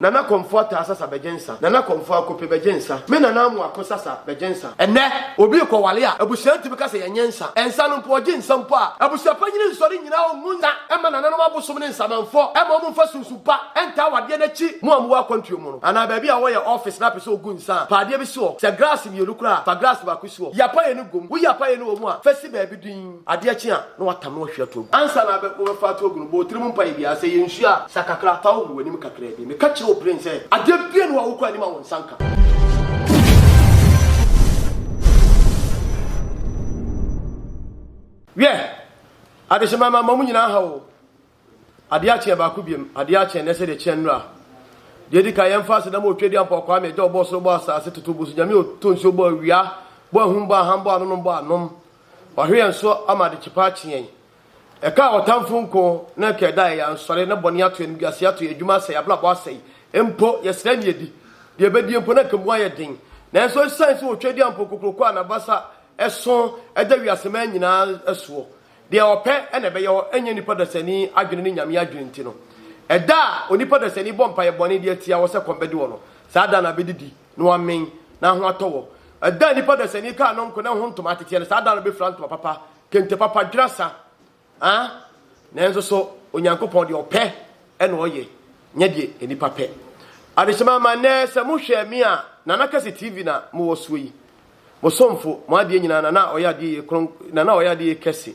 Nana Komfo Ataa Sasa Bɛgye Nsa Nana Komfo Akope Bɛgye Nsa Me Nana Amoako Sasa Bɛgye Nsa. Ɛnnɛ obi rekɔware a, abusua ntumi ka sɛ yɛnyɛ nsa. Nsa no mpo, ɔgye nsa mpo a, abusua panyin nsɔre nnyina hɔ ngu nsa mma nananom abosom ne nsamanfoɔ mma wɔmfa sunsum pa ntaa awadeɛ no akyi mu a wɔwɔ akwantuo mu no anaa baabi a wɔyɛ ɔɔfese na apɛ sɛ ɔgu nsa a, fa adeɛ bi si hɔ. Sɛ graase mmienu koraa a, fa graase baako si hɔ. Yi apaeɛ no gu mu. Woyi apaeɛ no wɔ mu a, fa si baabi dinn. Adeɛ kye a, na watam na wahwie ato agu. Ansa na abɛ wobɛfa ato agu no, bɔ wo tiri mu mpaeɛ biara. Sɛ ɛyɛ nsuo a, sa kakra fa hohoro w'anim kakraa bi. Meka kyerɛ wo peren sɛ, adeɛ biara nni hɔ a wokɔ anim a wo nsa nka. Wiɛ! Adehyemma mma mo nyinaa nhaw o. Adeɛ akye yɛ baako biam. Adeɛ akye ɛnɛ sɛdeɛ ɛkyeɛ nnora. Deɛ ɛdi kan, yɛmfa aseda ma Otwadeɛ Ampɔn Kwame, Agya a ɔbɔɔ soro, bɔɔ asase, totoo bosu Nyame a ɔtɔ nsuo, bɔɔ awia, bɔɔ ahum, bɔɔ aham, bɔɔ anonom, bɔɔ anom. Wahwe yɛn so ama adekye pa akye yɛn. Ɛka a ɔtamfo nko na ɛka ɛda a ɛyɛ ansɔre, na bɔne ato yɛn, animguaseɛ ato yɛn, adwuma asɛe, abrabɔ asɛe. Mpo, yɛsrɛ a ɛnni adi. Deɛ ɛbɛdie mpo, na anka mu ayɛ den. Nanso ɛsiane sɛ Otwadeɛ Ampɔn kokroko a n'abasa sõ da wiaseman nyinaa soɔ, Deɛ ɔpɛ na ɛbɛyɛ hɔ, ɛnyɛ nnipa dasani adwene ne Nyame adwene nti no. Ɛda a onipa dasani bɔ mpaeɛ bɔne de atia hɔ sɛ kɔm bɛde wɔ no, saa da no abɛdidi, na wamen, na ho atɔ wɔ. Ɛda a nnipa dasani kaa no nko na ɛho ntoma ateteɛ no, saa da no bɛfira ntoma papa, kente papa, dwera sa. A Nanso so Onyankopɔn deɛ ɔpɛ na ɔyɛ, nyɛ deɛ nnipa pɛ. Adehyema ma nnɛ sɛ mohwɛ me a, Nana Kase TV na mowɔ soɔ yi. Mo somfo, mo adeɛ nyinaa, na na ɔyɛ adeɛ yie, kron, na na ɔyɛ adeɛ yie kɛse.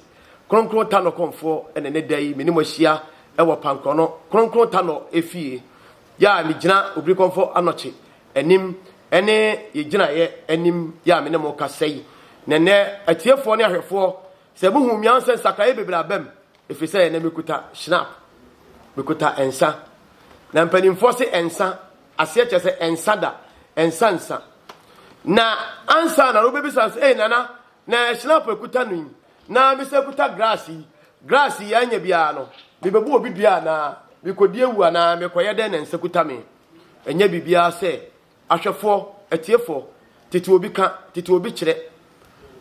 Kronkron Tanor Kɔmfoɔ na ɛnɛ da yi me ne mo ahyia wɔ Pankrɔno Kronkron Tanor efie yɛ a megyina Obiri Kɔmfɔ Anɔkye anim ne yɛ gyinaeɛ anim yɛ a me ne mo kasa yi. Na ɛnɛ atiefoɔ ne ahwɛfoɔ sɛ mo hu me ansɛ nsakraeɛ bebree aba mu ɛfiri sɛ ɛnɛ mekuta Schnapp, mekuta nsa. Na mpanimfoɔ se nsa. aseɛ kyerɛ sɛ ɛnsa da ɛnsa nsa na ansa na wobɛbisa sɛ ei nana na hyinap ɛkuta no yi na mesɛ kuta grass yi grass yi anya biara no mebɛbu obi dua anaa mekɔdi awu anaa mekɔyɛ dɛn na nsa kuta me ɛnyɛ biribiara sɛ ahwɛfoɔ atiefoɔ tete obi ka tete obi kyerɛ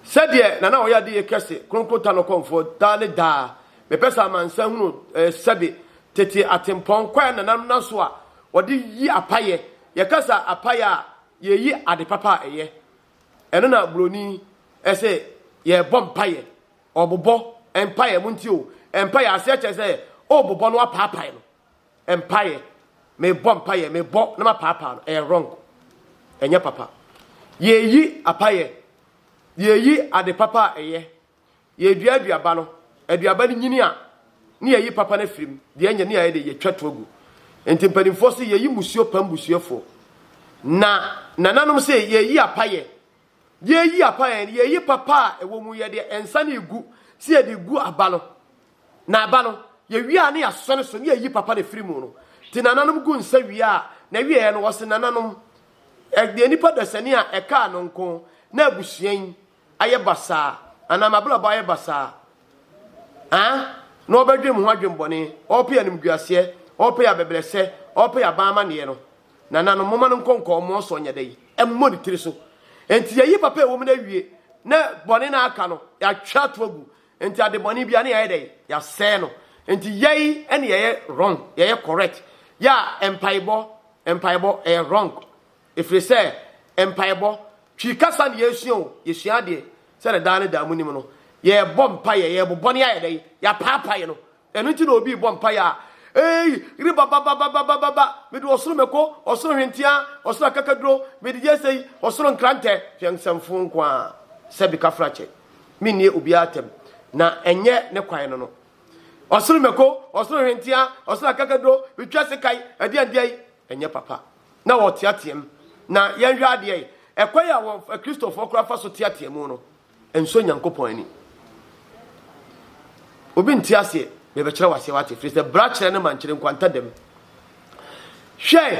sɛdeɛ nana ɔyɛ adeyɛ kɛse kronkron ta no kɔmfoɔ daa ne daa mepɛ sɛ amansa hunu eh, sɛbe tete atempɔn kwaɛ nanam na so a wɔde yi apayɛ. Yɛka sa apayɛ a, yɛyi ade papa a ɛyɛ. Ɛno na buroni se yɛrebɔ mpaeɛ. Ɔbobɔ mpaeɛ, montie o, mpaeɛ aseɛ kyerɛ sɛ wobobɔ na wapaapae no. Mpaeɛ, mebɔ mpaeɛ, mebɔ na mapaapaa no, ɛyɛ wrong. Ɛnyɛ papa. Yɛyi apayɛ, yɛyi ade papa a ɛyɛ. Yɛredua aduaba no, aduaba no nyini a, na yɛyi papa no afiri mu, deɛ ɛnyɛ no a yɛde yɛtwa to agu. Enti mpanimfoɔ se yɛyi mmusuo pam busuafoɔ. Na nananom se yɛyi apayɛ. Yɛreyi apayɛ no, yɛyi papa a ɛwɔ mu, yɛde nsa no regu sɛ yɛde gu aba no. Na aba no, yɛwie a na yɛasɔ no so na yɛyi papa no afiri mu no. Nti nananom gu nsa wie a, na wieɛ no wɔse nananom, ɛyɛ nipa dasani a ɛkaa no nko na abusua yi ayɛ basaa anaa m'abrabɔ ayɛ basaa a, na ɔbɛdwen me ho adwembɔne, ɔrepɛ animguaseɛ, ɔrepɛ abɛbrɛsɛ, ɔrepɛ aban amanneɛ no. Nananom, momma no nkɔ nkɔmmɔɔ so ɔnyɛ dɛ yi, ɛmmɔ ne tiri so. Enti yɛayi papa a ɛwɔ mu no awie, na bɔne no a aka no, yɛatwa ato agu. Enti adebɔne biara no yɛayɛ dɛ yi, yɛasɛe no. Enti yɛn na yɛyɛ wrong, yɛyɛ correct. Yɛ a mpaebɔ, mpaebɔ, ɛyɛ wrong. Ɛfiri sɛ mpaebɔ, Twi kasa na yɛresua o, yɛsua adeɛ sɛdeɛ daa ne daa monim no, yɛrebɔ mpaeɛ, yɛrebobɔ ne ayɛ dɛn? Yɛapaapae no. Ɛno nti na obi rebɔ mpaeɛ a, Ei, ribababababababa, mede ɔsoro mako, ɔsoro hwenteaa, ɔsoro akakaduro, mede yɛ sei, ɔsoro nkrantɛ, hwɛ nsɛmfoo nko ara, sɛ bikafrakyɛ, mennie obiara atɛm, na ɛnyɛ ne kwan no no. Ɔsoro mako, ɔsoro hwenteaa, ɔsoro akakaduro, metwa sekan, ɛdeɛn deɛn, ɛnyɛ papa. na wɔteateam, na yɛnhwɛ adeɛ yi, ɛkwan a wɔn Kristofoɔ koraa fa so teatea mu no, ɛnsɔ Nyankopɔn ani. Obi nte aseɛ, mebɛkyerɛ wo aseɛ wate, firi sɛ bra kyerɛ no ma nkyerɛ nkwanta dam. Hwɛ,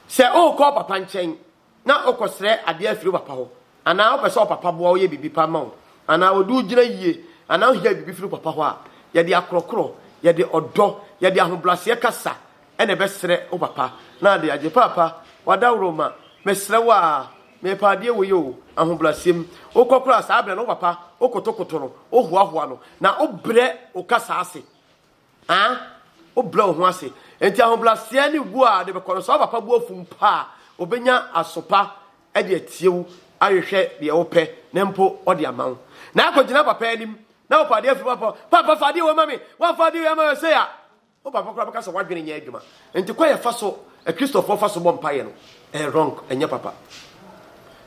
sɛ wokɔ papa nkyɛn na wokɔsrɛ adeɛ afiri papa hɔ, anaa wopɛ sɛ ɔpapa boa woyɛ biribi pa ma wo, anaa wɔde wo gyina yie, anaa wohia biribi firi papa hɔ a, yɛde akorɔkorɔ, yɛde ɔdɔ, yɛde ahobrɛaseɛ kasa, ɛna ɛbɛsrɛ wo papa na ade agye. Paapa, w'adaworo ma, mesrɛ wo aa, mepa adeɛ wei oo, ahobraseɛ mu. Wokɔ koraa a, saa berɛ no wo papa, wokotokoto no, wohoahoa no, na wobrɛ wo kasa ase. Aa, wobrɛ wo ho ase. Enti ahobraseɛ ne wuo aa de bɛkɔ no, sɛ wo papa bo afu mpo a, ɔbɛnya asopa de atie wo, ahwehwɛ deɛ wopɛ na mpo ɔde ama wo. Na akɔgyina papa anim na wopɛ adeɛ afiri mu, paapa, paapa fa adeɛ wei ma me, woamfa adeɛ wei amma me sei a, Wo papa koraa bɛka sɛ w'adwene nyɛ adwuma. Nti kwan a ɛfa so Akristofoɔ fa so bɔ mpaeɛ no, ɛyɛ wrong, ɛnyɛ papa.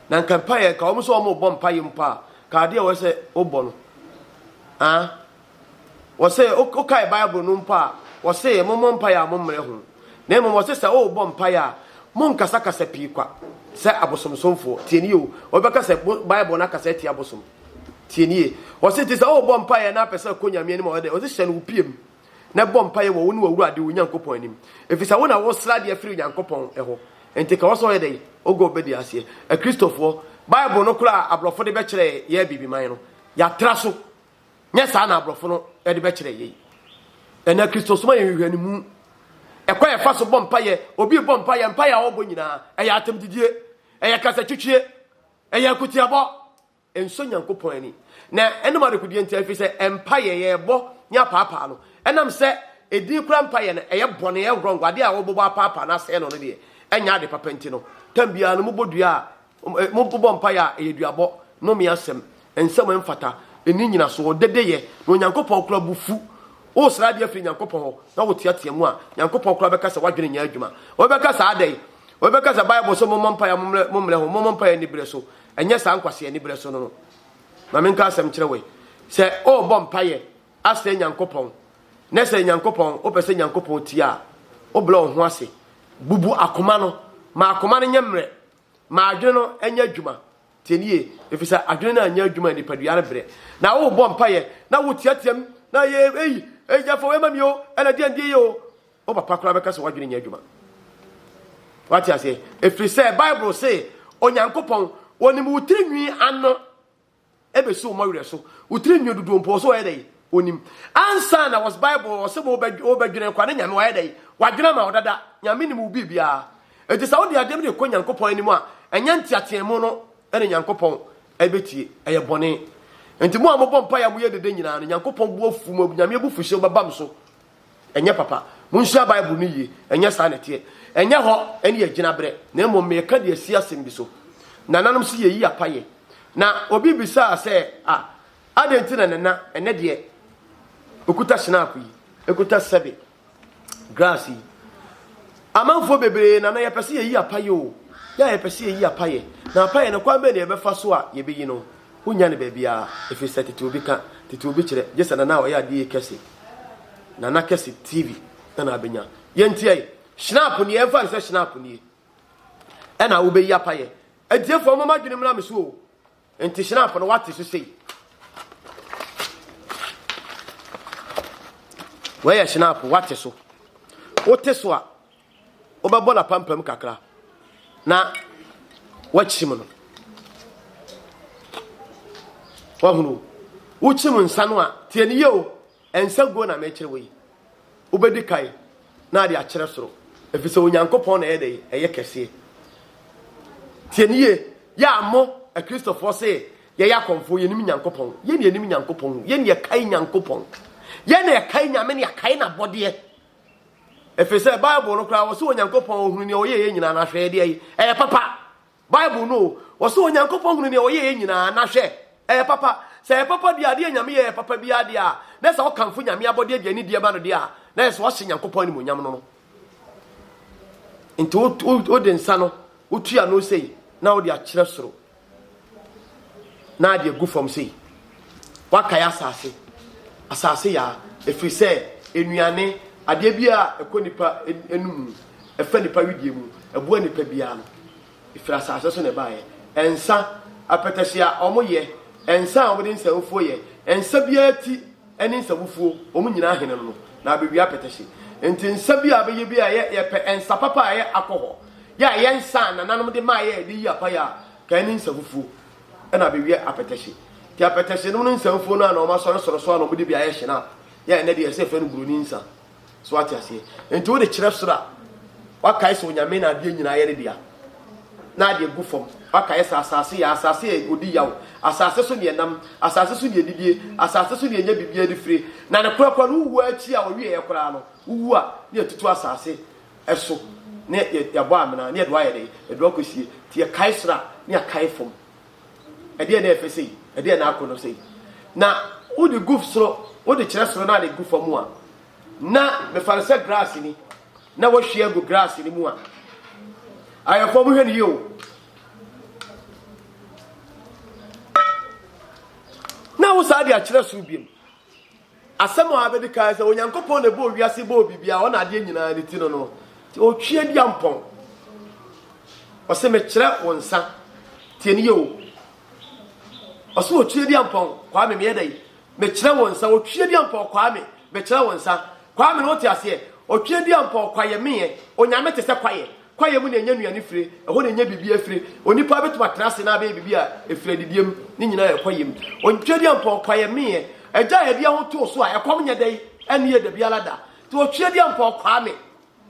Na nka mpaeɛ, nka wɔn sɛ wɔn rebɔ mpaeɛ mpo a, ka adeɛ a wɔyɛ sɛ wobɔ no. Ah, wɔsɛ wokae Bible no mpo a, wɔsɛ mommɔ mpaeɛ a mommrɛ ho. Na mmom wɔsɛ sɛ worebɔ mpaeɛ a, monkasakasa pii kwa sɛ abosomsomfoɔ. Tie nie o, wɔbɛka sɛ Bible no akasa atia abosom. Tie nie, wɔsɛ nti sɛ worebɔ mpaeɛ na apɛ sɛ akɔ Nyame anim a, wɔyɛ dɛ, wɔsɛ hyɛ no wo pia mu. na bɔ mpaeɛ wɔ wo ne w'Awurade wo Nyankopɔn anim, ɛfiri sɛ wo na wosrɛ adeɛ firi Onyankopɔn hɔ, enti ka wɔ sɛ ɔyɛ dɛn, ogɔ wo bɛdi aseɛ. Akristofoɔ, Bible no koro a aborɔfo de bɛkyerɛ yɛ abibiman no, yɛatra so, nyɛ saa na aborɔfo no de bɛkyerɛ yɛi. Ɛnɛ Akristosom ayɛ nhwehwɛnimu. Ɛkwa yɛfa so bɔ mpaeɛ, obi bɔ mpaeɛ, mpaeɛ a ɔbɔ nyinaa, ɛyɛ atɛmdidie, ɛyɛ kasatwitwie, ɛyɛ akutiabɔ. nsɔ Nyankopɔn ani, na ɛnom adekodeɛ nti, ɛfiri sɛ mpaeɛ yɛbɔ ne apaapaa no, ɛnam sɛ ɛdin kora mpaeɛ no ɛyɛ bɔne, ɛyɛ wrong, adeɛ a wɔbɔbɔ apaapaa no asɛe no no deɛ ɛnyɛ ade papa nti no, tam biara no mobɔ dua a, mobɔ mpaeɛ a ɛyɛ duabɔ, nnome asɛm, nsɛm a ɛmfata, ɛnni nyinasoɔ, dedeyɛ, na Onyankopɔn kora bo fu. Wosra adeɛ firi Nyankopɔn hɔ na woteatea mu a, Nyankopɔn kora bɛka sɛ w'adwene nyɛ adwuma. Ɔbɛka sɛ, Adɛn? Ɔbɛka sɛ, Bible se mommɔ mpaeɛ a mommrɛ ho, mommɔ mpaeɛ aniberɛ so, ɛnyɛ saa nkwaseani berɛ so no no. Ma menka asɛm kyerɛ wei. Sɛ worebɔ mpaeɛ asrɛ Nyankopɔn, na sɛ Nyankopɔn, wopɛ sɛ Nyankopɔn tie a, wobrɛ wo ho ase. Bubu akoma no. Ma akoma no nyɛ mmerɛ. Ma adwene no nyɛ adwuma. Tie nie, ɛfiri sɛ adwene no anyɛ adwuma a, nipadua no brɛ. Na worebɔ mpaeɛ, na woteateam, na yɛ ei, ei, yɛfa wei ma me o, ɛna deɛn deɛ yɛ o. Wo papa koraa bɛka sɛ w'adwene nyɛ adwuma. Wate aseɛ? Ɛfiri sɛ Bible se Onyankopɔn ɔnim wo tiri nwi ano ɛbɛsi wo mɔwerɛ so. Wo tiri nwi dodoɔ mpo ɔsɛ ɔyɛ dɛ ɔnim. Ansa na wɔs Bible ɔsɛ wobɛdwene kwa ne Nyame wayɛ dɛ wadwene ama wo dada. Nyame nim wo biribiara. Enti sɛ wode adeɛm de kɔ Nyankopɔn anim a ɛnyɛ nteateɛ mu no ɛne Nyankopɔn ɛbɛtie. Ɛyɛ bɔne. Enti mo a mobɔ mpa yɛ moyɛ dede nyinaa no Nyankopɔn bo afu mo Nyame abufuhyɛ bɛbam so. Ɛnyɛ papa. Monsua Bible no yie. Ɛnyɛ saa na ɛteɛ. Ɛnyɛ hɔ ne yɛn gyinaberɛ, na mmom mereka de asi asɛm bi so. Nananom se yɛyi apa yɛ. Na obi bisaa sɛ, Ah, adɛn nti na Nana, ɛnnɛ deɛ ɔkuta hyenaako yi, ɛkuta sɛbe, grass yi? Amanfoɔ bebree, Nana, yɛpɛ sɛ yɛyi apa yɛ o. Yɛ a yɛpɛ sɛ yɛyi apa yɛ. Na apa yɛ no, kwan bɛn na yɛbɛfa so a yɛbɛyi no? Wonnya no baabiara, ɛfiri sɛ tete obi ka, tete obi kyerɛ, gye sɛ Nana a ɔyɛ adeɛ yi kɛse, Nana Kɛse TV, na na abɛnya. Yɛntie yi, Schnapp nie, yɛmfa no sɛ Schnapp nie, ɛna wobɛyi apayɛ. Atiefoɔ, momma adwene mmra me so o, nti Schnapp no woate so sei. Wei yɛ Schnapp, woate so. Wote so a. wobɛbɔ no apampam kakra na wakyim no wahunu wokyim nsa no a tie ne yie o nsa guo na mekyerɛ wɔ yi wobɛdi kae na ade akyerɛ soro ɛfiri sɛ onyankopɔn na ɛyɛ dɛ ɛyɛ kɛseɛ tie ne yie yɛ a mo akristofoɔ se yɛyɛ akɔmfoɔ yɛnim nyankopɔn yɛne yɛnim nyankopɔn yɛne yɛkae nyankopɔn yɛne yɛkae nyame ne yɛkae n'abɔdeɛ Efisɛ Bible no koraa, wɔse Onyankopɔn ohunu nea ɔyɛeɛ nyinaa, na hwɛ, ɛdeɛ yi, ɛyɛ papa. Bible no o, wɔse Onyankopɔn hunu nea ɔyɛeɛ nyinaa, na hwɛ, ɛyɛ papa. Sɛ ɛyɛ papa deɛ, adeɛ a Nyame yɛɛ yɛ papa biara deɛ a, na sɛ wokamfo Nyame abɔdeɛ de anidie ba no deɛ a, na yɛ sɛ woahyɛ Nyankopɔn animuonyam no no. Nti wode nsa no, wotua no sei, na wode akyerɛ soro. na ade agu fam sei. Wakae asase. Asase yaa. Ɛfiri sɛ nnuane, adeɛ biara a ɛkɔ nipa anum mu, ɛfa nipa wedeɛ mu, ɛboa nipa biara no, ɛfiri asase so na ɛbaeɛ. Ɛnsa, apɛtɛhye a wɔyɛ, ɛnsa a wɔde nsanfuo yɛ, ɛnsa biara ti ne nsabufuo, wɔn nyinaa hene no no, na abɛwie apɛtɛhye. Nti nsa bi a abɛyɛ bi a yɛ, yɛpɛ nsa papa a ɛyɛ akɔhɔ, yɛ a yɛ nsa a nananom de maa yɛ de yi apaeɛ a, ka ɛne nsafufuo, ɛna abɛwie apɛtɛhye. Nti apɛtɛhye nom no nsafufuo no a na wɔn asɔre soro so a na wɔn de bi ayɛ hye no a, yɛ a ɛnɛ deɛ yɛsɛ yɛfrɛ no buroni nsa. So wate aseɛ? Nti wode kyerɛ soro a, wakae sɛ Onyame na adeɛ nyinaa yɛ ne dea. Na adeɛ gu fam, wakae sɛ asase yɛ, asase yɛ odi yaw, asase so ne ɛnam, asase so ne ɛdidie, asase so ne ɛnyɛ biribiara de fire, na ne korakora no wowu ara akyi a wɔwieɛ koraa no, wowu a, ne yɛtutu asase so, ne yɛbɔ amena, ne yɛde wo ayɛ dɛn? Yɛde wo akɔsie. Nti yɛkae soro a, ne yɛakae fam. Ɛdeɛn na ɛfɛ sei? Ɛdeɛn na akɔnnɔ sei? Na wode gu soro, wode kyerɛ soro na ade gu fam a, na mefa no sɛ grass ni, na wahwie agu grass ni mu a. Ayɛfoɔ mohwɛ no yie o. Na wo saa de akyerɛ soro biom. Asɛm a abedi kan ne sɛ, Onyankopɔn na ɛbɔɔ wiase, bɔɔ biribiara, ɔna adeɛ nyinaa no ti no no, nti ɔtwea dua mpɔn. Ɔse mekyerɛ wo nsa, tie no yie o. Ɔse ɔtwea dua mpɔn, Kwame meyɛ dɛn? Mekyerɛ wo nsa, ɔtwea dua mpɔn, Kwame mekyerɛ wo nsa, Kwame na wote aseɛ? Ɔtwea dua mpɔn, Kwayɛ meyɛ, Onyame te sɛ kwayɛ, Kwaeɛ mu na yɛnya nnuane fire, ɛhɔ na yɛnya biribiara fire. Onipa bɛtumi atena ase na abɛyɛ biribi a ɛfiri adidie mu, ne nyinaa yɛ kwaeɛ mu. Ɔntwa di ampɔn, kwaeɛ meeɛ. Agya a yɛde yɛn ho too so a ɛkɔm nyɛ dɛ yi, ɛnne yɛ dabiara da. Nti ɔtwea di ampɔn, kwaa me,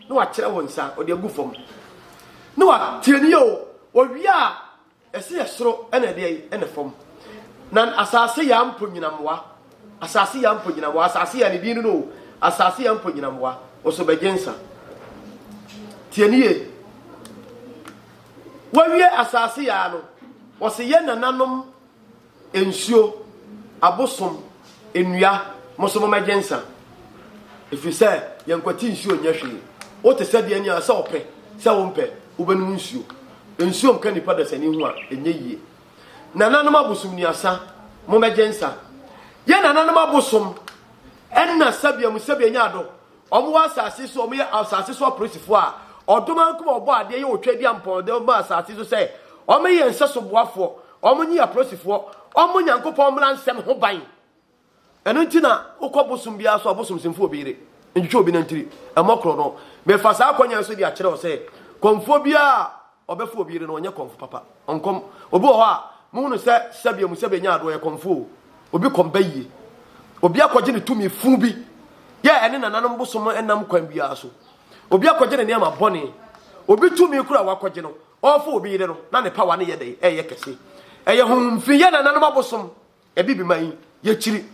na wakyerɛ wo nsa, ɔde agu fam, na watie ne yɛ o. Ɔwie a, Ɛse yɛ soro ɛna ɛdeɛ yi ɛna fam na asase ya mpo nyinamoa asase ya mpo nyinamoa asase ya ne din no asase ya mpo nyinamoa nso bɛgye nsa tie ne yie wɔwie asase ya no wɔse yɛ nananom Nsuo, abosom, nnua, mo nso momɛgye nsa. Ɛfiri sɛ yɛn nkwati nsuo nyɛ hwee. Wote sɛdeɛ ɛnni a sɛ wopɛ sɛ wompɛ wobɛnom nsuo. Nsuo nka nnipa dasani ho a ɛnyɛ yie. Nananom abosom nnuasa, momɛgye nsa. Yɛn nananom abosom ɛnna sɛbea mu sɛbea nya adɔ. Wɔwɔ asase so, wɔyɛ asase so apolisifo a ɔdom ankom a wɔbɔ adeɛ yɛ otwa bi a mpɔnɔdɛm ba asase so sɛ wɔyɛ nsɛso boafoɔ, wɔnye apolisifoɔ, wɔbɔ Nyankopɔn mmara nsɛm ho ban. Ɛno nti na wokɔ bosom biara so a ɔbosomsimfo wɔ obi yere ntwitwa obi nantiri, ɛmmɔ korɔno. Mefa saa akwannya yi so de akyerɛ wo sɛ kɔmfoɔ biara a Ɔbɛfo obi yere no, ɔnyɛ kɔmfo papa. Ɔnkɔm. Obi wɔ hɔ a, muhu no sɛ sɛbea mu sɛbea nya ade, ɔyɛ kɔmfo o. Obi kɔm ba yiye. Obi akɔgye ne tumi fũ bi yɛ ɛne nananom bosom nam kwan biara so. Obi akɔgye ne nneɛma bɔne. Obi tumi koro a wakɔgye no, ɔrefo obi yere no, na ne pawa no yɛ dɛn? Ɛyɛ kɛse. Ɛyɛ honhom fi, yɛ nananom abosom. Abibima yi, yɛkyiri.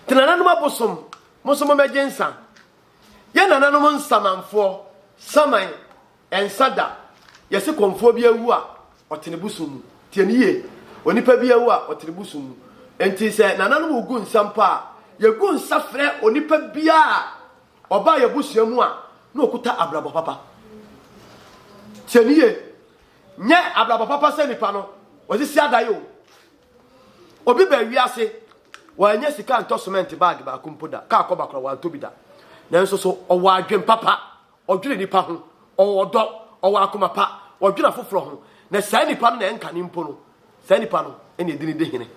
Te nananom abosom, mo nso mommɛgye nsa. Yɛn nananom nsamanfoɔ, saman, ɛnsa da. Yɛse kɔmfoɔ bi awu a, ɔte ne bosom mu. Tie no yie. Onipa bi awu a, ɔte ne bosom mu. Enti sɛ nananom regu nsa mpo a, yɛgu nsa frɛ onipa biara a ɔbaa yɛn abusua mu a na ɔkuta abrabɔ papa. Tie no yie. Nyɛ abrabɔ papa sɛ nipa no ɔsisi adae o. Obi baa wiase, wannya sika ntɔ semɛnt bag baako mpo da, kaa kɔba koraa wantɔ bi da. Nanso so ɔwɔ adwene papa? Ɔdwene nipa ho, ɔwɔ ɔdɔ, ɔwɔ akoma pa, ɔdwene afoforɔ ho, na saa nipa no na ɛnka no mpo no, saa nipa no na ɛdi no di hene.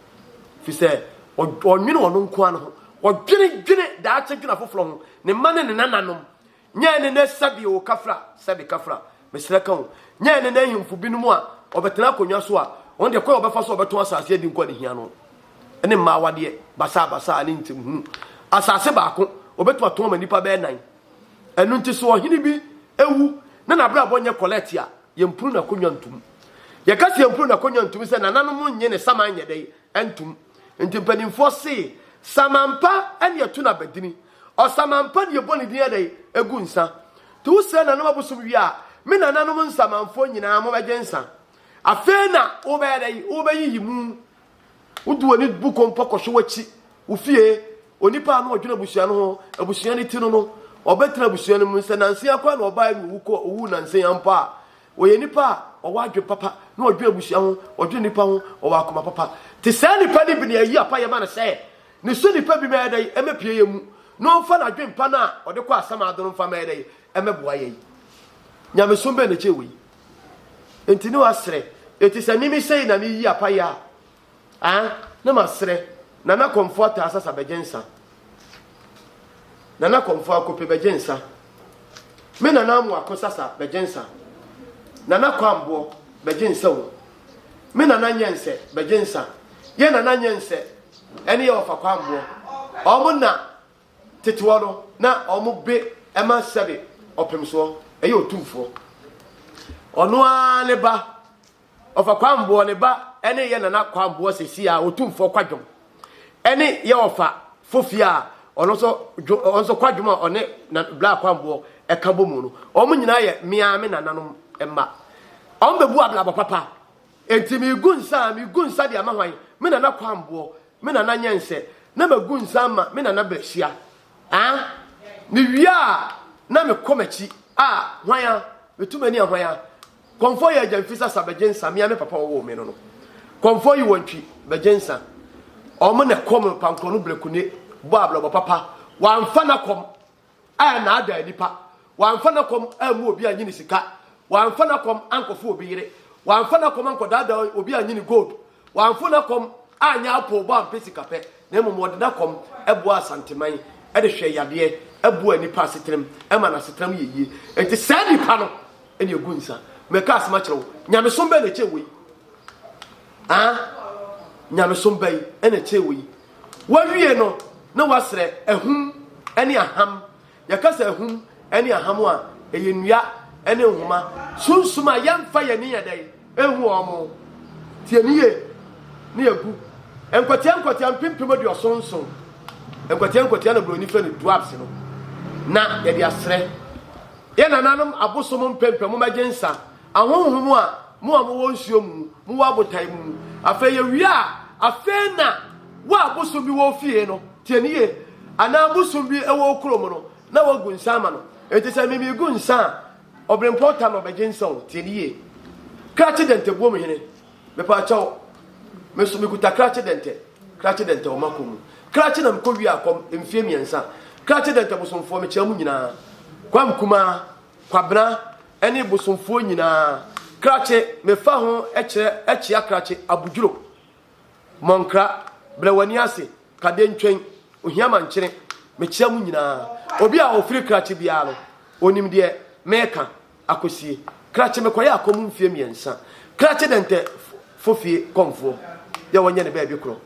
Ɛfiri sɛ ɔnnwene ɔno nko ara ne ho, ɔdwenedwene daakye, dwene afoforɔ ho, ne mma ne ne nananom. Nyɛ ne nɛ sɛbi o kafra, sɛbi kafra, mesrɛ ka o, nyɛ ne nɛ ahemfo binom a wɔbɛtena akonnwa so a wɔn deɛ kwan a wɔbɛfa so a wɔbɛtɔn asase adi nkwa ne hia no ne mmaa awadeɛ basaabasaa ne ntemhunu. Asase baako, wɔbɛtumi atɔn ama nnipa bɛyɛ nan. Ɛno nti sɛ ɔhene bi wu na n'abrabɔ nyɛ kɔlɛɛte a, yɛmpunu n'akonnwa ntom. Yɛka sɛ yɛmpunu n'akonnwa ntom sɛ nananom nnye ne saman nyɛ dɛn ntom. Nti mpanimfoɔ se, Saman pa ne yɛto no abadini. Ɔsamanpa deɛ bɔ ne din adɛn ɛgu nsa nti wo srɛ nanom abosom wie a me nananom nsamanfoɔ nyinaa mo bɛgye nsa afei na wo bɛyɛ dɛn wo bɛ yiyi mu wo de w'ani bu kompɔ kɔhwɛ w'akyi wo fie onipa a na ɔdwene abusua no ho abusua no ti no no ɔbɛtena abusua no mu sɛ nansen akora na ɔbaa no owu kɔ owu nansen a mpo a ɔyɛ nipa a ɔwɔ adwene papa na ɔdwene abusua ho ɔdwene nipa ho ɔwɔ akoma papa te saa nipa no bi na ayi apa yɛ ma no sɛ Ne so nipa bi mɛyɛ dɛn mmɛpue yɛn mu na ɔmfa n'adwempa no a ɔde kɔ asamado no mfa mɛyɛ dɛn mmɛboa yɛn? Nyamesom bɛn na ɛkyɛn wei? Enti ne wasrɛ, eti sɛ mimi sei na meyi apaye a, ah, ne masrɛ, Nana Komfo Ataa Sasa bɛgye nsa. Nana Komfo Akope bɛgye nsa. Me Nana Amoako Sasa bɛgye nsa. Nana Kwamboɔ bɛgye nsa o. Me Nana Nyɛnsɛ bɛgye nsa. Yɛ Nana Nyɛnsɛ ɛne yɛ ɔfa kwamboɔ. Wɔn na teteɔ no na wɔn be ma sɛbe ɔpemsoɔ, ɛyɛ otumfoɔ. Ɔno ara ne ba, ɔfa kwamboɔ ne ba ɛne yɛ nana kwamboɔ sɛsi a otumfoɔ kwadwom. Ɛne yɛ ɔfa fofie a ɔno nso dwo, ɔno nso kwadwom a ɔne na bla kwamboɔ ɛka bɔ mu no. Wɔn nyinaa yɛ meaa me nananom mma. Wɔn bɛbu ablabɔ papa Enti megu nsa a, megu nsa de ama hwan? Me nana Kwamboɔ, me nana Nyɛnsɛ, na magu nsa ama me nana Bɛhyia. Aa! Mewie a, na mekɔ m'akyi. Aa! Hwan a? Metu m'ani a, hwan a? Kɔmfɔ yi Agya Mfisasa Bɛgyensah, me a me papa ɔwoo me no no. Kɔmfɔ yi Wɔntwi Bɛgyensah. Wɔn na ɛkɔm pankorɔ no brekune bɔ abrabɔ papa. Wɔamfa no akɔm. a ɛnaadaa nnipa, wamfa n'akɔm ammu obi annye ne sika, wamfa n'akɔm ankɔfo obi yere, wamfa n'akɔm ankɔdaadaa obi annye ne gold, wamfo n'akɔm anyɛ apoobɔ ampɛ sikapɛ, na mmom ɔde n'akɔm boaa Asanteman de hwɛɛ yadeɛ, boaa nnipa asetenam, ɛmaa n'asetenam yɛ yie. Enti saa nnipa no na ɛgu nsa. Mɛka asɛm akyerɛ wo, nyamesom bɛn na ɛkyɛn wei? Ah, nyamesom bɛn na ɛkyɛn wei? Wowie no, na wɔasrɛ ahum ne aham. Yɛka sɛ ahum ne aham a, ɛyɛ nnua ne nhoma, sunsum a yɛmfa yɛn ani nyɛ dɛn nhu wɔn. Tie me yie, na yɛagu nkwatia nkwatia mpempem aduɔson nson. Nkwatia nkwatia na Buroni frɛ no dwarfs no, na yɛde asrɛ yɛn nananom abosom mpempem wɔn agye nsa. Ahonhom a, mo a mowɔ nsuo mu, mowɔ abotan mu. Afei yɛwie a, afei na wo a bosom bi wɔ wo fie no, tie no yie, anaa bosom bi wɔ wo kurom no, na woagu nsã ama no. Enti sɛ me megu nsã a, ɔberempɔn tam na ɔbɛgye nsã o, tie no yie. Krakye dɛntɛ buom hene, mepaa kyɛw, me nso mekuta krakye dɛntɛ, krakye dɛntɛ wɔ m'akɔm mu. Krakye na mekɔ wie akɔm mfie mmiɛnsa. Krakye dɛntɛ bosomfoɔ, mekyea mo nyinaa. Kwam Kumaa, Kwabena, ne bosomfoɔ nyinaa. Krakye, mefa ho kyerɛ Akyia Krakye, Abudwuro, Mɔnkra, Brɛwaniase, Kadentwɛn, Ohiamankyene, mekyea mo nyinaa. Obi a ɔfiri Krakye biara no, ɔnim deɛ mereka. Akosie, Krakye mekɔyɛ akɔm mfeɛ mmiɛnsa. Krakye Dɛntɛ fo fie kɔmfoɔ, yɛ wɔnyɛ no baabi korɔ,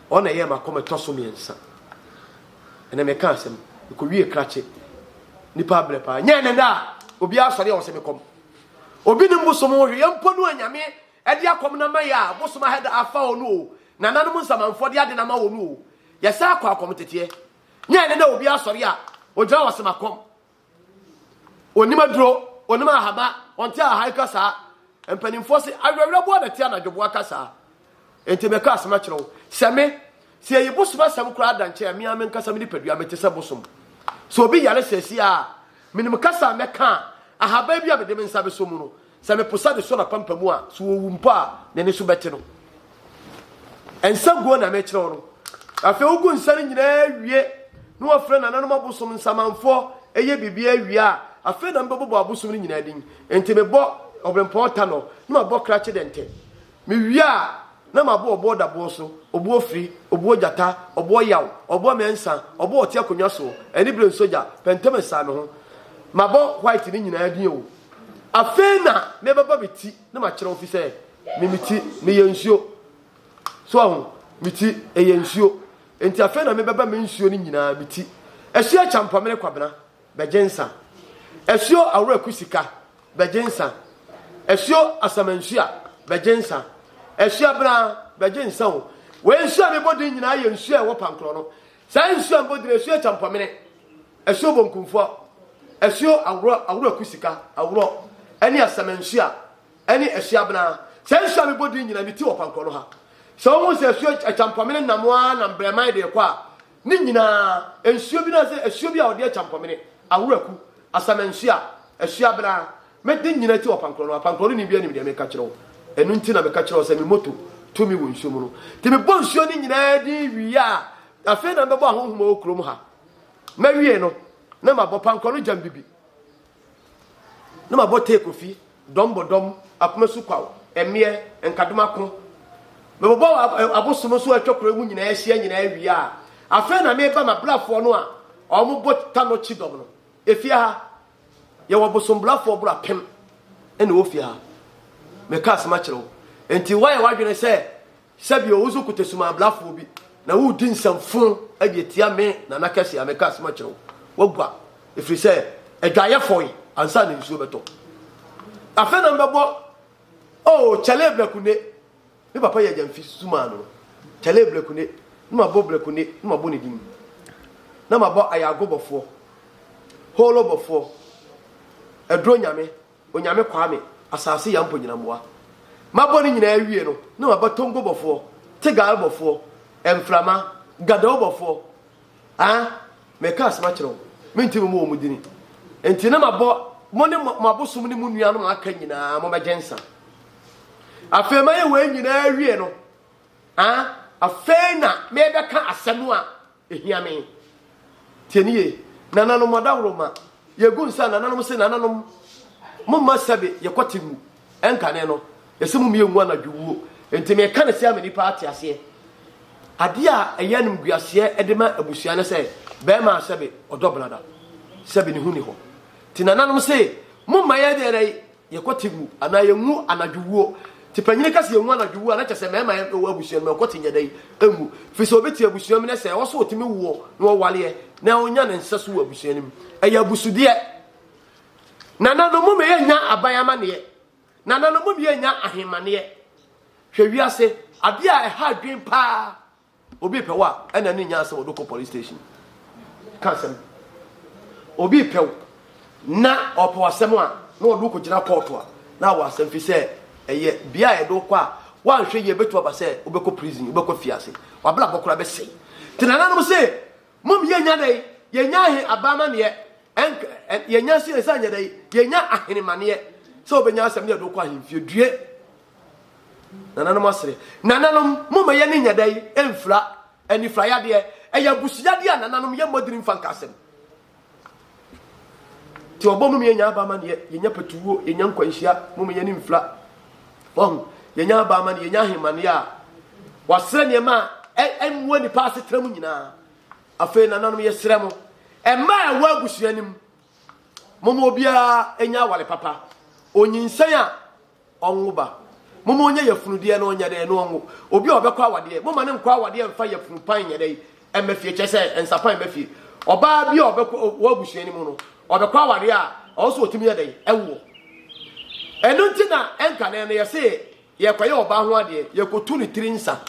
ɔno na ɛyɛɛ m'akɔm ɛtɔ so mmiɛnsa. Ɛnɛ meka asɛm. Mekowie krakye. Nipa abrɛ paa. Nyɛ ɛnɛ daa. Obiara asɔre a ɔsɛ me kɔm. Obi ne mbosom ho hweyɛ mpo no a Nyame ɛde akɔm no ama yɛ a bosom ahɛ da afa hɔ no o. Nananom nsamanfoɔ de ade no ama wɔ no o. Yɛsan kɔ akɔm teteɛ. Nyɛ ɛnɛ daa obiara asɔre a ogyina hɔ ɔsɛ makɔm. Ɔnim aduro, ɔnim ahama, ɔnte ahan kasaa. Mpanimfoɔ se awerɛwerɛboɔ na ɛte anadwoboa kasaa. Enti meka asɛm akyerɛ wo sɛ me, sɛ yɛyi bosom asɛm koraa da nkyɛn a, me ara m'ankasa me nipadua mete sɛ bosom. Sɛ obi yare seesei ara a, menim kasa a mɛka a ahaban bi a mede me nsa bɛsɔ mu no Sɛ me posa de sɔ n'apampamu a, so owu mpo a, n'ani so bɛte no. Nsa guo na mekyerɛ wo no. Afei wogu nsa no nyinaa wie na wɔfrɛ nananom abosom nsamanfoɔ yɛ biribiara wie a, afei na mebɛbobɔ abosom no nyinaa din. Enti mebɔ Ɔberempɔn Tanɔ na mabɔ Krache Dɛntɛ. Mewie a, na mabɔ ɔboɔ daboɔ so, ɔboɔ firi, ɔboɔ gyata, ɔboɔ yaw, ɔboɔ mɛnsa, ɔboɔ ɔte akonnwa soɔ, anibere nsogya, pɛntɛm ɛsaa me ho. Mabɔ white no nyinaa din o. Afei na mebɛbɔ me ti na makyerɛw fi sɛ me me ti no yɛ nsuo. So wahu? Me ti ɛyɛ nsuo. Enti afei na mebɛbɔ me nsuo no nyinaa me ti. Ɛhye Akyampɔmene Kwabena, bɛgye nsã. Asuo Aworaku Sika bɛgye nsã. Asuo Asamansua bɛgye nsã. Asuo Abena bɛgye nsã o. Wei nsuo a mebɔ din nyinaa yɛ nsuo a ɛwɔ Pankorɔ no. Saa nsuo a mebɔ din Asuo Kyampɔmene, Asuo Bonkumfoɔ, Asuo Aworɔ, Aworaku Sika, Aworɔ, ɛne Asamansua, ɛne Asuo Abena. Saa nsuo a mebɔ din nyinaa, ne ti wɔ Pankorɔ no ha. Sɛ wohu sɛ Asuo Kyampɔmene nam ara na Mbrɛman de rekɔ a, Ne nyinaa, nsuo bi no ara sɛ asuo bi a wɔde akya mpɔmene, aworaku, asamansuo a, asuo abena. Me de nyina ti wɔ apankorɔ no, apankorɔ no ni biara nim deɛ meka kyerɛ wo. Ɛno nti na meka kyerɛ wo sɛ me moto to me wɔ nsuo mu no. Nti mebɔ nsuo no nyinaa din wie a, afei na mɛbɔ ahonhom a ɛwɔ kurom ha. Mɛwie no, na mabɔ pankɔ no gyambibi. Na mabɔ tee kofi, dɔm bɔ dɔm, akoma su kwaw, mmeɛ, nkadom ako. Mebobɔ abosom nso a atwa kuro yi mu nyinaa ahyia nyinaa wie a, afei na meba m'abrafoɔ no a wɔbɔ tano kyidɔm no. Efie ha, yɛwɔ bosombrafoɔ boro apem na ɛwɔ fie ha. Meka asɛm akyerɛ wo. Enti woayɛ w'adwene sɛ Sɛ bio, wo nso kuta sumanblafoɔ bi na woredi nsɛm fo de atia me Nana Kɛse a meka asɛm akyerɛ wo. Woagua, ɛfiri sɛ adwaeɛ fɔe ansa na nsuo bɛtɔ. Afei na mebɛbɔ Oh, Kyale Blekune, me papa yɛ Gyamfi Suman no. Kyale Blekune, na mabɔ Blekune, na mabɔ ne din. Na mabɔ Ayago Bɔfoɔ, Holo Bɔfoɔ, Aduro Nyame, Onyame Kwame, Asase Yampo Nyinamboa. Mabɔ ne nyinaa wie no na maba Tongo bɔfoɔ, Tegal bɔfoɔ, Mframa, Gadou bɔfoɔ ah meka asem akyerɛ wo mentumi mmɔ wɔn dini nti na mabɔ mo ne mo abosom ne mo nuanom a aka nyinaa mo mɛgye nsa afei mayɛ wei nyinaa wie no ah afei na mebɛka asɛm a Ehia me. Tie no yie. Nananom, adawuroma, yegu nsa a nananom se, Nananom, momma sɛbe yɛkɔte mu nkane no, yɛse mommie ngu anadwo wuo. Enti meka no sɛa ma nnipa ate aseɛ. Adeɛ a ɛyɛ animguaseɛ de ma abusua ne sɛ, barima a sɛbe ɔdɔ brada, sɛbe ne ho nni hɔ. Enti nananom se, momma yɛnyɛ dɛn? Yɛkɔ te mu anaa yɛnwu anadwo wuo. Te panyini ka sɛ yɛnwu anadwo wuo a na kyɛ sɛ mmarima a ɛwɔ abusua no mu ɛkɔ te nyɛ dɛn nwu. Firi sɛ obi te abusua mu na sɛ ɛwɔ sɛ ɔtumi woɔ na ɔwareɛ na ɔnya ne nsa so wɔ abusua no mu. Ɛyɛ abusudeɛ. Nana no mom yɛ nya aban amaneɛ. Nana no mom yɛ nya ahemmaneɛ. Hwɛ wiase. Adeɛ a ɛha adwen paa Obi repɛ wo a, ɛna ne nyaa sɛ wɔde kɔ police station. Ka asɛm. Obi repɛ wo na ɔpɛ asɛm a, na wɔde wo kɔgyina kɔɔto a, na awɔ asɛm fi sɛ ɛyɛ bea a yɛde wo kɔ a, woanhwɛ yie bɛtu aba sɛ wobɛkɔ prison, wobɛkɔ fiase, w'abrabɔ koraa bɛsɛe. Nti nananom se, mom yɛnya dɛn? Yɛnya ahe aba amanneɛ? Ɛnk, yɛnya se yɛsan nyɛ dɛn? Yɛnya ahenemaneɛ sɛ wobɛnya asɛm na yɛde wo kɔ ahemfie due. Nananom asere. Nananom, momma yɛn ani nyɛ dɛ mfira anifirayadeɛ. Ɛyɛ abusuyadeɛ a nananom yɛmmɔ dini mfa nka asɛm. Nti ɔbɔ mom yɛnya aba amaneɛ, yɛnya patuwuo, yɛnya nkwanhyia, mom yɛn ani mfira. Wahu, yɛnya aba amaneɛ, yɛnya ahemaneɛ a wasrɛ nneɛma a ɛmmoa nipa asetena mu nyinaa. Afei nananom yɛsrɛ mo, ɛma a ɛwɔ abusua no mu, mom obiara nya awale papa, onyinsɛn a Ɔnwo ba. Momma ɔnyɛ yafunu deɛ na ɔnyɛ dɛn na ɔnwo. Obi a ɔbɛkɔ awadeɛ, momma no nkɔ awadeɛ mfa yafunu pan nyɛ dɛn mma fie, kyerɛ sɛ nsa pan mma fie. Ɔbaa bi a ɔbɛkɔ wɔ abusua no mu no, ɔbɛkɔ awadeɛ a, ɔwɔ sɛ ɔtumi yɛ dɛn? Ɛwoɔ. Ɛno nti na ɛnkane no yɛse yɛkɔyɛ ɔbaa ho adeɛ, yɛkɔtu ne tiri nsa.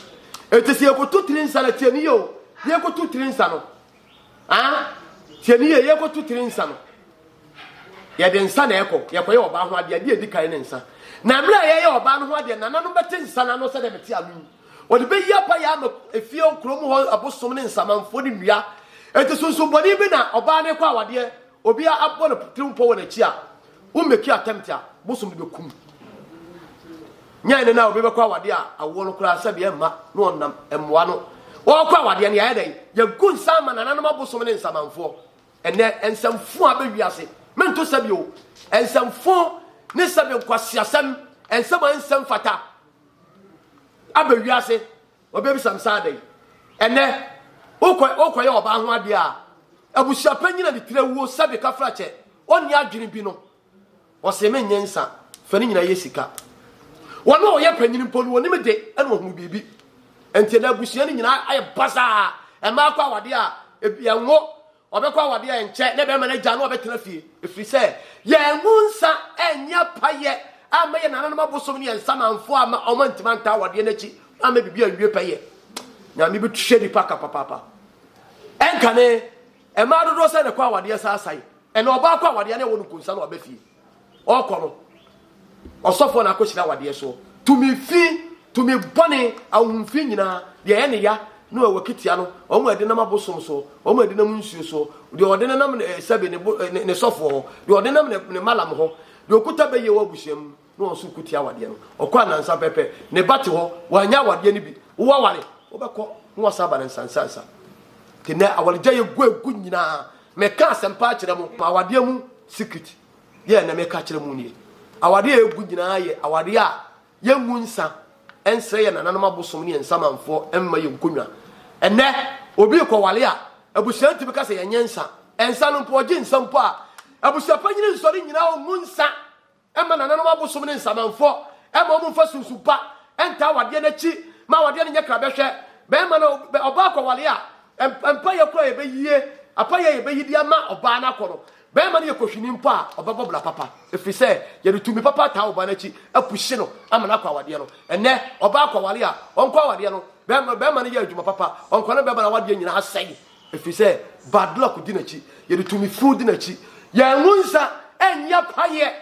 Ɛnti sɛ yɛkɔtu tiri nsa no, tie ne yie o, yɛkɔtu tiri nsa no, Ah, tie ne yɛ, yɛkɔto tiri nsa no. Yɛde nsa na ɛkɔ, yɛkɔyɛ ɔbaa ho adeɛ, adeɛ edi kan ne nsa. Na mmerɛ a yɛyɛ ɔbaa no ho adeɛ, nana no bɛte nsa no ano sɛdeɛ mete ano yi. Wɔde bɛyi apa yɛ ama efie kurom hɔ abosom ne nsamanfoɔ ne nnua. Enti sunsum bɔne bi na ɔbaa no kɔ awadeɛ Obi a abɔ ne tirim pɔ wɔ n'akyi a, wo mmɛki attempt a, bosom no bɛku no. Nyɛ ɛne na obi bɛkɔ awadeɛ a awoɔ no koraa sɛbi ɛmma na ɔnam mmoa no. Ɔɔkɔ awadeɛ no, yɛayɛ dɛn? Yɛagu nsa ama nananom abosom ne nsamanfoɔ. Ɛnnɛ, nsɛmfoo abɛ wiase. Mento sɛbi o. Nsɛmfoo ne sɛbi nkwaseasɛm, nsɛm a ɛnsɛ mfata abɛ wiase. Wɔbɛbisa me sɛ adɛn? Ɛnnɛ, worekɔyɛ ɔbaa ho adeɛ a, abusuapanyin a ne tiri awuo sɛbe kafrakyɛ, ɔnni adwene bi no, ɔsee me nyɛ nsa, fa ne nyinaa yɛ sika. Wɔn a wɔyɛ panyin mpo no, wɔne me de na wɔhunu biribi. Enti ɛnnɛ abusua no nyinaa ayɛ basaa, mmaako awadeɛ a ɛnwo, Ɔbɛkɔ awadeɛ a ɛnkyɛ ne bɛrima no agya no ɔbɛtena fie ɛfiri sɛ yɛangu nsa ɛnyɛ apayɛ amma yɛ nananom abosom ne yɛn samanfoɔ ama ɔma ntima nta awadeɛ no akyi ama biribi anwie pɛyɛ nyame bɛtuhyɛ nipa ka papaapa ɛnkane ɛmaa dodoɔ sɛ ne kɔ awadeɛ saasae ɛna ɔbaa kɔ awadeɛ ne ɛwɔ no nkonsa no aba fie Ɔkɔ no, ɔsɔfoɔ na akɔhyira awadeɛ soɔ. Tumi fi, tumi bɔne, ahohomfi nyinaa, deɛ ɛyɛ ne ya ne ɛwɔ kitia no, wɔn a ɛde nam abosom soɔ, wɔn a ɛde nam nsuo soɔ, deɛ ɔde no nam eh, sɛbe ne, bo, eh, ne, ne sɔfoɔ hɔ, deɛ ɔde nam ne, ne malam hɔ, deɛ ɔkuta bɛyie wɔ abusua mu na wɔn nso kutia awadeɛ no. Ɔkɔ anansa pɛpɛ, ne ba te hɔ, wanyɛ awadeɛ no bi, wowaware, wobɛkɔ na wɔsan aba no nsansansa. Nti nɛ awaregyaeɛ gu agu nyinaa, Meka asɛmpa akyerɛ mo ma awadeɛ mu secret yɛ nɛ meka kyerɛ mo nie. Awadeɛ a ɛgu nyinaa yɛ awadeɛ a yɛngu nsa nsrɛ yɛn nananom abosom ne yɛn nsamanfoɔ mma yɛn nkonnwa. Ɛnɛ obi rekɔwale a abusua ntumi ka sɛ yɛnyɛ nsa. Nsa no mpo ɔgye nsa mpo a abusuapanyini nsɔre nnyina ɔngu nsa Ɛmma nananom abosom ne nsamanfɔ ɛmma wɔn nfa sunsun pa ɛntaa awadeɛ no akyi ma awadeɛ no nyɛ krabɛhwɛ. Bɛɛma no ɔbaa kɔwale a, mpaeɛ koro a yɛbɛyie, apaeɛ a yɛbɛyi de ama ɔbaa no akɔ no, bɛɛma no yɛ kɔhwini mpo a, ɔbɛbɔ bra papa. Ɛfiri sɛ, yɛde tumi papa ataa ɔbaa no akyi apuhye no ama no akɔ awadeɛ no. Ɛnnɛ, ɔbaa kɔwale a, ɔnkɔ awadeɛ no, bɛɛma no yɛ adwuma papa, ɔnkɔ no bɛɛma no awadeɛ nyinaa sɛe. Ɛfiri sɛ bad luck di n'akyi. Yɛde tumi funu di n'akyi. Yɛangu nsa nyɛ payɛ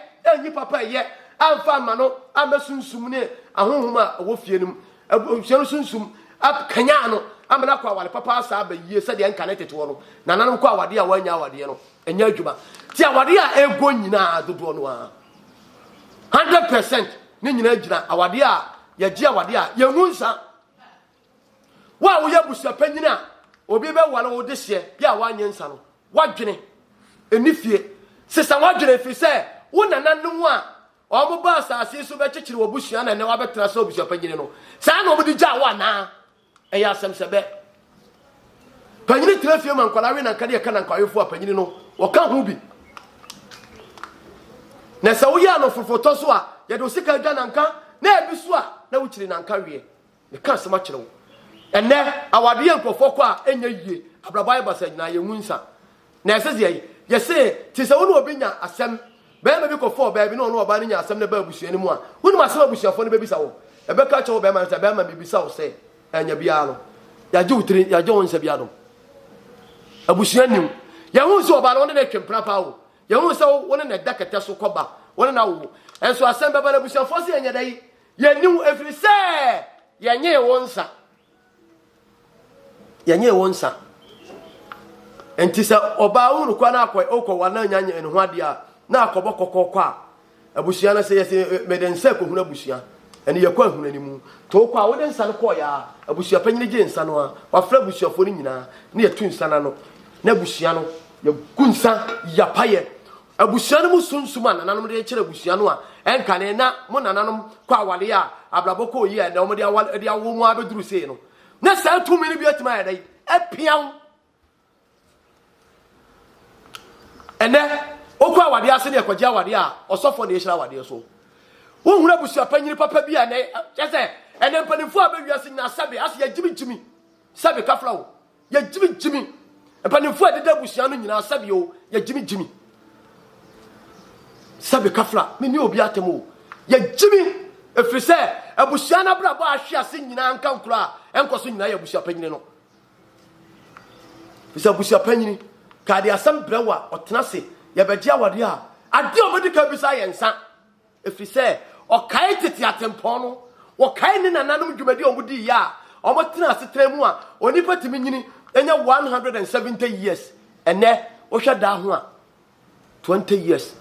nyi papa ɛyɛ amfa mma no amma sunsum ne ahonhom a ɛwɔ fie no mu abusua no sunsum akanyan no ama no akɔ aware papa asa aba yie sɛdeɛ nka ne teteɔ no nananom kɔ awadeɛ a wɔanya awadeɛ no ɛnyɛ adwuma ti awadeɛ a ɛgɔ nyinaa dodoɔ no ara 100 percent ne nyinaa gyina awadeɛ a yɛgye awadeɛ a yɛngu nsa Wo a woyɛ abusuapanyin a obi bɛware wo dehyeɛ bi a woanyɛ nsa no, w'adwene nni fie. Sesa w'adwene ɛfiri sɛ wo nananom a wɔbaa asase yi so bɛkyekyere w'abusua na ɛnɛ wabɛtena sɛ abusuapanyin no, saa na wɔde gyaa wo anaa? Ɛyɛ asɛm sɛ bɛ. Panyin tena fie ma nkwadaa we na nka deɛ ɛka na nkwawefoɔ a panyin no wɔka ho bi. Na sɛ woyɛ anofofotɔ so a, yɛde wo sika adwa nanka na ebi so a na wokyiri nanka weɛ. Meka asɛm akyerɛ wo. Ɛnnɛ, awade yɛ nkurɔfoɔ kɔ a ɛnyɛ yie, abrabɔ ayɛ basaa nyinaa, yɛnwu nsa. Na ɛsɛ sɛ yɛyi. Yɛse, te sɛ wo ne obi nya asɛm, barima bi kɔfɔɔ ɔbaa bi ne ɔne ɔbaa no nyaa asɛm na ɛbaa abusua no mu a, wonim asɛm a abusuafoɔ no bɛbisa wo? Ɛbɛka akyerɛ wo barima no sɛ, Barima, mebisa wo sɛ, anya biara no, yɛagye wo tiri, yɛagye wo nsa bi adom. Abusua nni mu. Yɛhuu sɛ ɔbaa no, wo ne no retwe mpena paa o. Yɛhuu sɛ wo ne no da kɛtɛ so kɔba, wo ne no awowo. Nso asɛm bɛba na abusuafoɔ se, Ɛnyɛ dɛ yi, Yɛnni wo ɛfiri sɛ yɛnyee wo nsa. Yɛnyee wo nsa. Nti sɛ ɔbaa wo nukwa na akɔ okɔ wa na nya nyɛ ne ho adeɛ a na akɔbɔ kɔkɔkɔ a abusua no sɛ yɛsɛ mede nsa kɔhunu abusua ɛne yɛkɔ ahunu anim nti wokɔ a wode nsa no kɔɔyɛ a abusua panyini gye nsa no a wafrɛ abusuafoɔ no nyinaa ne yɛtu nsa no ano na abusua no yɛgu nsa yapayɛ Abusua no mu sunsum a nananom de rekyerɛ abusua no a ɛnkane na mo nananom kɔ aware a abrabɔ kɔɔ yie a ɛnnɛ wɔde awo mu ara bɛduru sei no, na saa tumi no bi atumi ayɛ dɛn? Apia wo. Ɛnɛ, wokɔ awadeɛ ase ne ɛkɔgye awadeɛ a ɔsɔfoɔ na ɛhyira awadeɛ so. Wohunu abusua panyini papa bi a ɛnɛ kyɛ sɛ ɛnɛ mpanimfoɔ a bɛwiase nyinaa sɛbe ase yɛgyimigyimi sɛbe kafra wo. Yɛgyimigyimi. Mpanimfoɔ a ɛdeda abusua no nyinaa sɛbi o, yɛgyimigyimi. Sɛbi kafla, me ne obi atam o, yɛgyimi. Ɛfiri sɛ abusua no abrabɔ a ahwe ase nyinaa nka nkuro a ɛnkɔ so nyinaa yɛ abusua panyini no. Ɛfiri sɛ abusua panyini ka de asɛm brɛ wo a ɔtena se yɛbɛgye awadeɛ a adeɛ a ɔbɛdi ka bisa yɛ nsa. Ɛfiri sɛ ɔkae tete atempɔn no, ɔkae ne nananom dwumadi a wɔdiiɛ a wɔtenaa asetena mu a onipa tumi nyini nya 170 years. Ɛnnɛ, wohwɛ daa ho a, 20 years,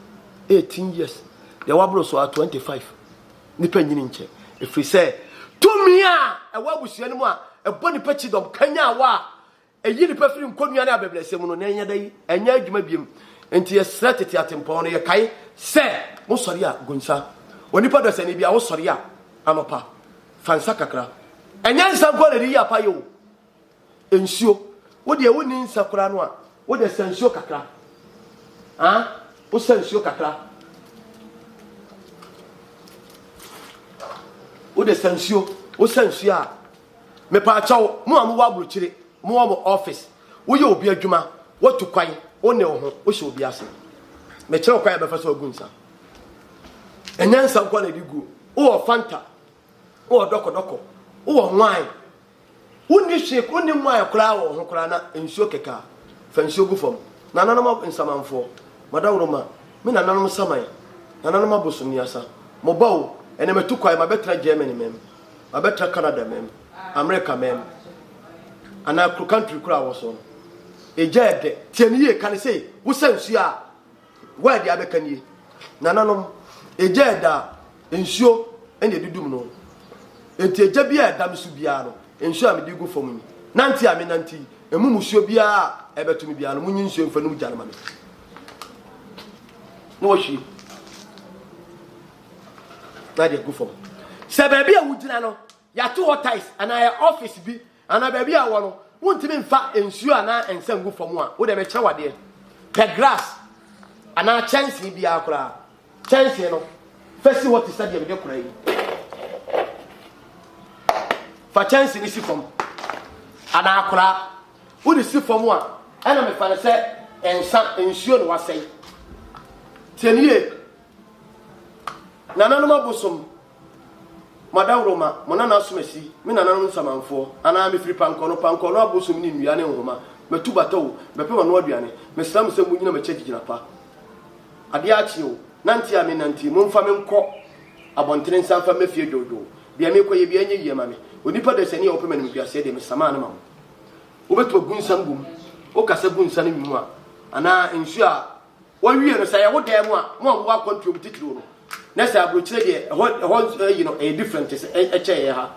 18 years, deɛ waboro so a 25. Nipa nyini nkyɛ, ɛfiri sɛ tumi a ɛwɔ abusua no mu a ɛbɔ nipa kyidɔm kanyan wɔ a Ɛyi nnipa firi nkɔnnua ne abɛbrɛsɛ mu no, na ɛnyɛ da yi, ɛnyɛ adwuma biom. Enti yɛsrɛ tete atempɔn no, yɛkae sɛ, Wosɔre a, gu nsa. Onipa dasani biara, wosɔre a, anɔpa, fa nsa kakra. Ɛnyɛ nsa nko na ɛde yi apa yɛ o, nsuo. Wo deɛ wonni nsa koraa no a, wo deɛ sa nsuo kakra. Ha? Wosa nsuo kakra. Wo deɛ sa nsuo. Wosa nsuo a, Mepaakyɛw, mo a mowɔ abrokyire, mowɔ mo office, woyɛ obi adwuma, woatu kwan, wo ne wo ho, wohyɛ obi ase. Mekyerɛ wo kwan a ɛbɛfa so agu nsa. Ɛnyɛ nsa nko na ɛde guo. Wowɔ Fanta, wowɔ dɔkɔdɔkɔ, wowɔ wine. Wonni hwee, wonni wine koraa wɔ wo ho koraa na nsuo kɛkaa. Fa nsuo gu fam. Nananom nsamanfoɔ, madawuroma, me nananom saman, nananom abosonniasa, mo ba o, ɛnnɛ matu kwan, mabɛtena Germany, mɛm. Wabɛtra Canada mɛm, America mɛm, anaa kuro country koro a wɔ soɔ no, egya yɛ dɛ. Tie no yie, ka no sei, wosa nsuo a, wo a deɛ abɛka nie. Nananom, egya yɛ dɛ a, nsuo na ɛdudum no. Enti egya biara a ɛda me so biara no, nsuo a mede gu fam yi, nante a menante yi, ɛmu musuo biara a ɛbɛto me biara no, monyi nsuo mfa num gya no ma me. Na wahwie. na de agu fam sɛ baabi a wogyina no yɛato hɔ tiles anaa yɛ office bi anaa baabi a wɔ no wontumi mfa nsuo anaa nsa ngu fam a wode bɛkyɛ wadeɛ pɛ grass anaa kyɛnsee biara koraa kyɛnsee no fa si hɔ te sɛ deɛ mede kora yi fa kyɛnsee no si fam anaa koraa wode si fam a ɛna mefa no sɛ nsa nsuo na wasɛe tiɛnie Nananom abosom, mo adaworoma, mo nana asomasi, me nananom nsamanfoɔ, anaa mefiri pankɔno, pankɔno abosom ne nnua ne nhoma, matu bata o, mɛpem ano aduane, mesrɛ mo sɛ monnyina m'akyi agyegyina pa. Adeɛ akye o, nante a menantee, momfa me nkɔ abɔntene nsa mfa mmɛ fie dwoodwoo, deɛ merekɔ yɛ biara nyɛ yie ma me, onipa dasani a ɔpɛ m'animguaseɛ deɛ mesamaa no ma mo. Wobɛtumi agu nsa no wom, woka sɛ gu nsa no wom a, anaa nsuo a Wɔwie no, sɛ ɛyɛ wo dan mu a, mo a mowɔ akwantuom titiriw no, na sɛ aburokyire deɛ, ɛhɔ ɛhɔ ayi no, ɛyɛ different te sɛ ɛ- ɛkyɛ yɛn ha.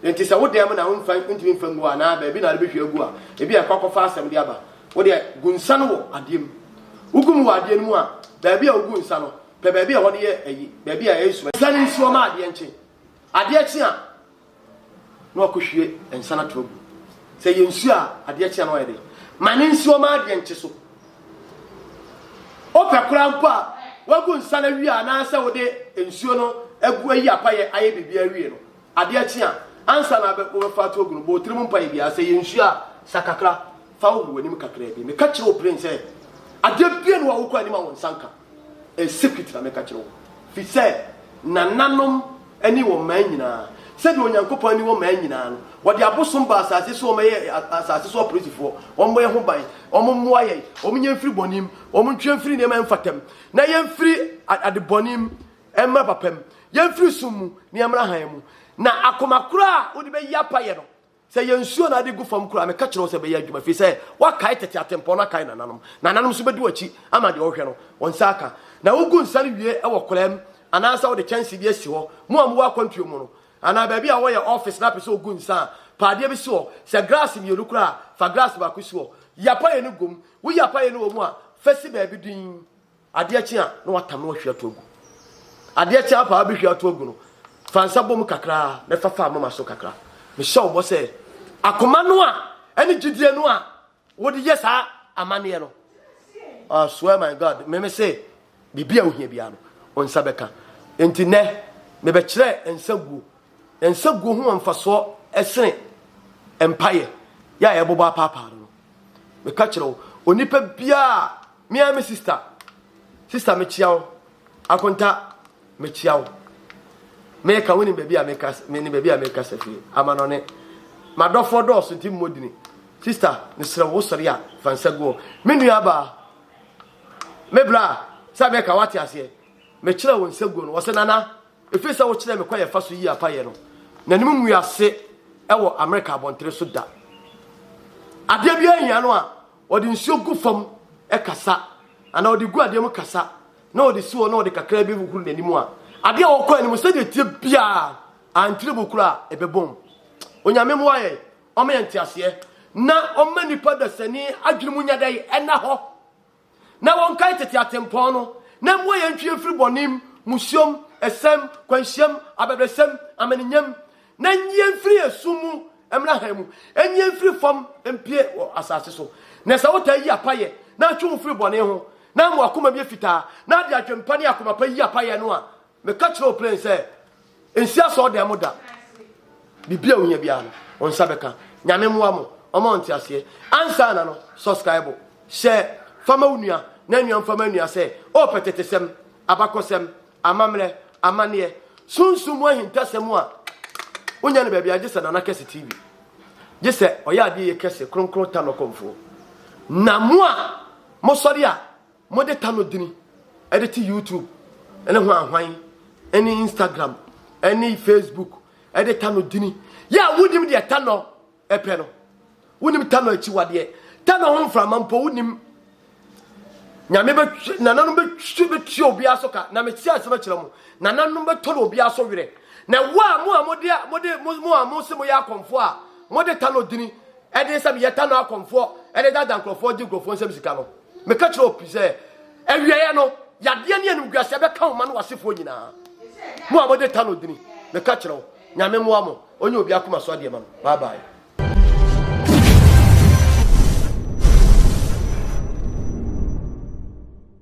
Enti sɛ wo dan mu na womfa ntumi mfa ngu hɔ anaa baabi na wode bɛhwie agu a, ebi a ɛkɔ akɔfa asɛm de aba. Wo deɛ, gu nsa no wɔ adeɛ mu. Wogu mu wɔ adeɛ no mu a, baabi a wogu nsa no, pɛ baabi a ɛhɔ no yɛ ayi, baabi a ɛyɛ sum. Nsa no nsuo ma adeɛ nkye. Adeɛ kye a. na wakɔhwie nsa no ato agu. Sɛ yɛ nsuo a adeɛ kyea no ayɛ dɛ. Ma ne nsuo ma adeɛ nkye so. Wopɛ koraa mpo a wagu nsa no awie anaasɛ wode nsuo no agu ayi apayɛ ayɛ biribi awie no adeɛ kyea ansa na wobɛfa ato agu no bɔ tirim mpaeɛ biara sɛ yɛ nsuo a sa kakra fa wogu w'anim kakraa bi. Meka kyerɛ wo plen sɛ adeɛ bie no a wokɔ anim a wo nsa nka. In secret na meka kyerɛ wo, firi sɛ nananom ani wɔ mmaa nyinaa. Sɛdeɛ Onyankopɔn ani wɔ mmaa nyinaa no, wɔde abosom baa asase so, wɔyɛ asase so apolisifoɔ, wɔmmɔ yɛn ho ban, wɔmmoa yɛn, wɔnyɛ mfiri bɔne mu, wɔntwe mfiri nneɛma a ɛmfata mu, na yɛmfiri adebɔne mu mmra papa mu, yɛmfiri sum mu na yɛmmra hann mu, na akoma korɔ a wode bɛyi apayɛ no, Sɛ yɛnsuo na ade gu fam koraa a, meka kyerɛ wo sɛ ɛbɛyɛ adwuma, ɛfiri sɛ woakae tete atempɔn no akae nananom. Nananom nso bɛdi w'akyi ama deɛ wohwɛ no, wɔn nsa aka. Na wogu nsa no wie wɔ koraa mu anaasɛ wode kyɛnsee bi asi hɔ. Mo a mowɔ akwantuo mu no, anaa baabi a wɔyɛ ɔfese na apɛ sɛ ɔgu nsa a, pa adeɛ bi si hɔ. Sɛ graase mmienu koraa a, fa graase baako si hɔ. Yi apaeɛ no gu mu. Woyi apaeɛ no wɔ mu a, fa si baabi dinn. Adeɛ kye a, na watam na wahwie ato agu. Adeɛ kye ara paa bɛhwie ato agu no, fa nsa bɔ mu kakra na fa fa moma so kakra. Mehyɛ wo bɔ sɛ akoma no a ɛne gyidie no a wode yɛ saa amanneɛ no, I swear my God, me me se biribi a wohia biara no, wo nsa bɛka. Enti nɛ, mebɛkyerɛ nsa guo. Nsa guo ho wɔ mfasoɔ ɛsene mpaeɛ yɛ a yɛbobɔ apaapaa no no. Meka kyerɛ wo, onipa biara Me ara me sister, sister mekyia wo, Akonta mekyia wo, meka wo ne baabi a meka me ne baabi a meka sɛ fie amanɔne, madɔfoɔ dɔɔso nti mmɔ dini, sister mesrɛ wo sɔre a fa nsa gu hɔ, me nua abaa, me bra sɛ meka wate aseɛ, mekyerɛ wo nsa guo no, wɔsɛ nana, ɛfiri sɛ wokyerɛ me kwan ɛfa so yi apayɛ no, n'anim ngu ase ɛwɔ Amerika abɔntere so da, adeɛ bi ahia no a, Ɔde nsuo gu fam kasa, anaa ɔde gu adeɛ mu kasa, na ɔde si hɔ na ɔde kakra bi hohoro n'anim a, adeɛ a ɔkɔ anim sɛdeɛ ɛteɛ biara ankyerɛ mu koraa a, ɛbɛbom. Onyame mmoa yɛn, ɔma yɛn nteaseɛ, na ɔmma nnipa dasani adwene mu nya dɛn? Ɛna hɔ. Na wɔnkae tete atempɔn no, na mmoa yɛn ntwe yɛn mfiri bɔne mu, mmusuam, ɛsɛm, kwanhyiam, abɛbrɛsɛm, amanenyam, Na nnyie mfiri esum mu mmra hann mu, nnyie mfiri fam mpue wɔ asase so. Na sɛ wotaa yi apayɛ, na atwe wo firi bɔne ho, na ama w'akoma mu yɛ fitaa, na de adwene pa ne akoma pa yi apayɛ no a, meka kyerɛ wo plen sɛ, nsi asɔɔdan mu da. Biribi a ohia biara no, wo nsa bɛka. Nyame mmoa mo, ɔma wo nteaseɛ. Ansa na no, sɔskraibo, hyɛ, fa ma wo nua, na nua mfa ma nua sɛ, oh pɛtɛtesɛm, abakɔsɛm, Amammerɛ, amaneɛ, sunsum mu ahintasɛm a wonnya no baabiara gye sɛ Nana Kɛse TV. Gye sɛ ɔyɛ adeɛ yɛ kɛse, kronkron ta no kɔmfoɔ. Na mo a mosɔre a mode ta no dini de te YouTube ne hwanhwan ne Instagram ne Facebook de ta no dini yɛ a wonim deɛ ta no ɛpɛ no wonim tano akyiwadeɛ tano ho mframa mpo wonim nyame bɛtwe nananom bɛtwe bɛtua obiara so ka na mete asɛm akyerɛ mo nananom bɛtɔ no obiara so werɛ na wo a mo a mode mode mo a mo se moyɛ akɔmfoɔ a mode tano dini ɛde sɛ meyɛ tano akɔmfoɔ ɛde dada nkurɔfoɔ gye nkurɔfoɔ nsɛm sika no meka kyerɛ opi sɛ awieɛ no yadeɛ ne animguaseɛ bɛka wo ma no wasefoɔ nyinaa mo a mode tano dini meka kyerɛ wo nyame mmoa mo Ɔnyɛ obi akoma so adeɛ ma no. Bye bye.